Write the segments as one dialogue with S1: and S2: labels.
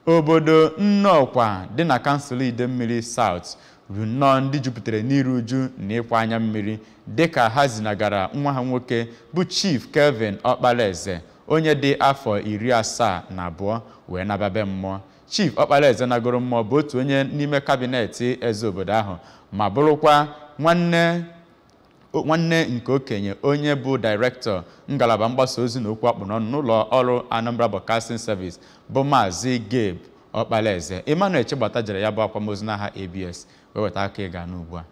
S1: obodo Nnọkwa dị na kansụl Idemmiri South bụ nnọọ ndị jupụtara n'iru uju na ịkwa anya mmiri dịka ha zinagara nwa ha nwoke bụ Chief Kelvin Ọkpalaeze onye dị afọ iri asaa na abụọ wee nababe mmụọ Chief Ọkpalaeze nagoro mmụọ bụ otu onye n'ime kabinet eze obodo ahụ ma bụrụkwa nwanne nwanne nke okenye onye bụ dairektọ ngalaba mgbasa ozi na okwu akpụ n'ọnụ n'ụlọ ọrụ Anambra Broadcasting Service bụ Maazị Gabe Ọkpalaeze Emmanuel Chigbata jere ya bụ akwamozu n'aha ABS wee weta aka ịga n'ugbu a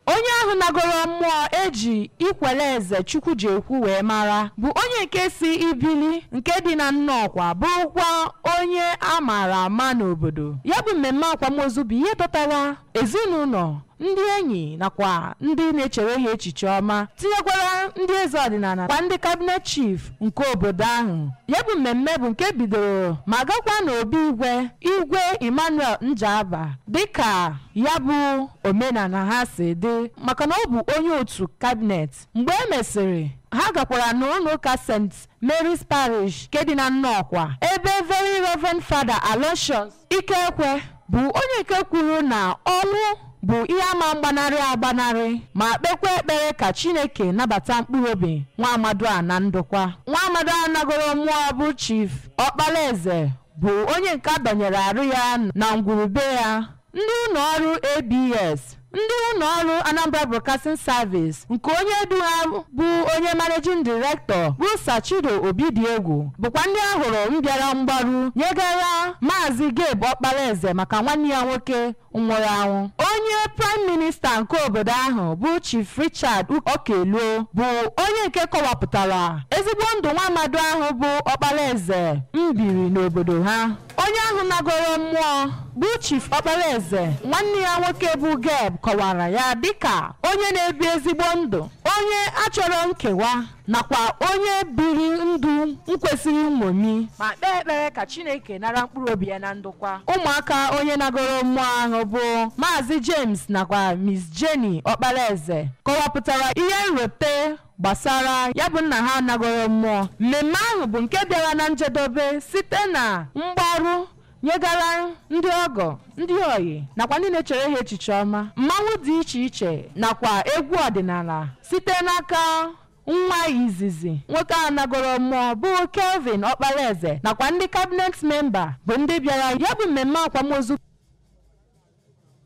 S2: onye ahụ nagoro mmụọ eji ikwele eze chukwu ji ekwu wee mara bụ onye nke si ibili nke dị na nnọkwa bụrụkwa onye a maara ama n'obodo ya bụ mmemme akwamozu bụ ihe dọtara ezinụlọ ndị enyi nakwa ndị na-echere ha echiche ọma tinyekwara ndị eze ọdịnala kwa ndị kabinet chief nke obodo ahụ ya bụ mmemme bụ nke bidoro ma gakwa n'obi igwe igwe emmanuel njaba dịka ya bụ omenala ha si dị maka na ọ bụ onye otu kabinet mgbe e mesịrị ha gakwara n'ụlọ ụka st mary's parish nke dị na nnọkwa ebe very reverend father aloysius Ikekwe bụ onye nke kwuru na ọnwụ bụ ihe ama mgbanarị agbanarị ma kpekwa ekpere ka Chineke nabata mkpụrụ obi nwa amadu a na ndokwa. Nwa amadu a nagoro mmụọ bụ Chief Ọkpalaeze bụ onye nke a dọnyere arụ ya na ngwurube ya. Ndị ụlọ ọrụ ABS Ndị ụlọọrụ Anambra Broadcasting Service nke onye du ha bụ onye Managing Director bụ Sir Chido Obidiegwu bụkwa ndị a hụrụ mbịara mgbaru nyegara Maazị Gabe Ọkpalaeze maka nwanne ya nwoke nwụrụ anwụ. Onye Prime Minister nke obodo ahụ bụ Chief Richard Okeluo bụ onye nke kọwapụtara ezigbo ndụ nwa amadu ahụ bụ Ọkpalaeze mbiri n'obodo ha. Onye ahụ nagoro mmụọ bụ Chief Ọkpalaeze, nwanne ya nwoke bụ Gabe kọwara ya dịka onye na-ebi ezigbo ndụ, onye achọrọ nkewa nakwa onye biri ndụ nkwesịrị nṅomi ma kpee ekpere ka Chineke nara mkpụrụ obi ya na ndokwa. Ụmụaka onye nagoro mmụọ ahụ bụ Maazị James nakwa Miss Jenny Ọkpalaeze kọwapụtara ihe nrite gbasara ya bụ nna ha nagoro mmụọ mmemme ahụ bụ nke bịara na njedobe site na mgbaru nyegara ndị ọgọ ndị ọyị nakwa ndị na-echere ha echiche ọma mmanwụ dị iche iche nakwa egwu ọdịnala site n'aka nwa izizi nwoke a nagoro mmụọ bụ kelvin ọkpalaeze nakwa ndị kabinet memba bụ ndị bịara ya bụ mmemme akwamozu